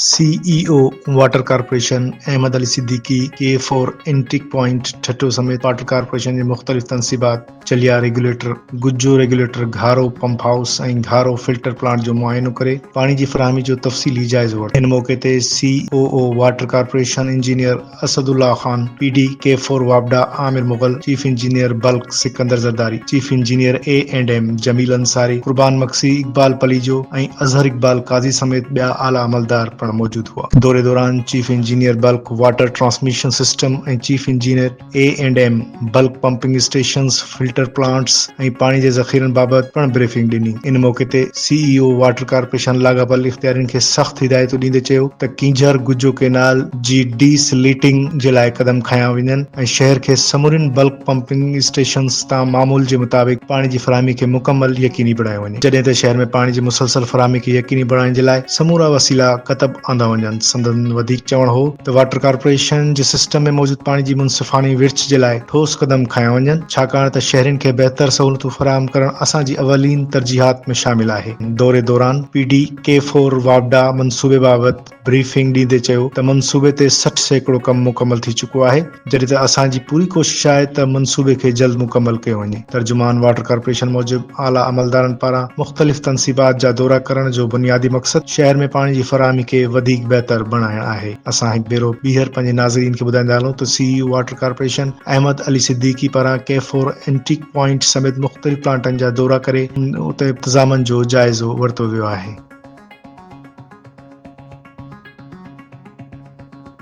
سي E O water corporation Ahmed Ali Siddiqui K four intake point Thatta سميت water corporation جي مختلف تنصيبات Chilya regulator, Gujjo regulator, Gharo pump house ۽ Gharo filter plant جو معائنو ڪري پاڻي جي فراهمي جو تفصيلي جائزو ورتو. ان موقعي تي C O O water corporation engineer Asad Ullah Khan, P D K four واپڊا Amir Mughal, chief engineer bulk Sikandar Zardari, chief engineer E and M Jameel Ansari, Qurban Magsi, Iqbal Palijo ۽ Azhar Iqbal Qazi سميت ٻيا اعليٰ عملدار پڻ موجود هئا. دوري دوران chief engineer bulk water transmission system ۽ chief engineer E and M, bulk pumping stations, filter plants ۽ پاڻي جي ذخيرن بابت پڻ بريفنگ ڏني. ان موقعي تي C E O water corporation لاڳاپيل اختيارين کي سخت هدايتون ڏيندي چيو ته ڪينجهر گجو ڪينال جي ڊي سليٽنگ جي لاء قدم کنيا وڃن ۽ شهر کي سمورين بلڪ پمپنگ اسٽيشنز تان معمول جي مطابق پاڻي جي فراهمي کي مڪمل يقيني بڻايو وڃي جڏهن ته شهر ۾ پاڻي جي مسلسل فراهمي کي يقيني بڻائڻ جي لاء سمورا وسيلا ڪتب آندا وڃن. سندن وڌيڪ چوڻ هو ته واٽر ڪارپوريشن جي سسٽم ۾ موجود پاڻي جي منصفاڻي ورڇ جي لاء ٺوس قدم کنيا وڃن، ڇاڪاڻ ته شهرين کي بهتر سهولتون فراهم ڪرڻ اسان جي اولين ترجيحات ۾ شامل آهي. دوري دوران پي ڊي ڪي فور واپڊا منصوبي بابت بريفنگ ڏيندي چيو ته منصوبي تي سٺ سيڪڙو ڪم مڪمل ٿي چڪو آهي، جڏهن ته اسان جي پوري ڪوشش آهي ته منصوبي کي جلد مڪمل ڪيو وڃي. ترجمان واٽر ڪارپوريشن موجب اعليٰ عملدارن پاران مختلف تنصيبات جا دورا ڪرڻ جو بنيادي مقصد شهر ۾ پاڻي جي فراهمي کي وڌيڪ بهتر بڻائڻ آهي. اسان هڪ ڀيرو ٻيهر پنهنجي ناظرين کي ٻڌائيندا هلون ته C E O water corporation Ahmed Ali Siddiqui پاران ڪيفور اينٽيڪ پوائنٽ سميت مختلف پلانٽن جا دورا ڪري اتي انتظامن جو جائزو ورتو ويو آهي.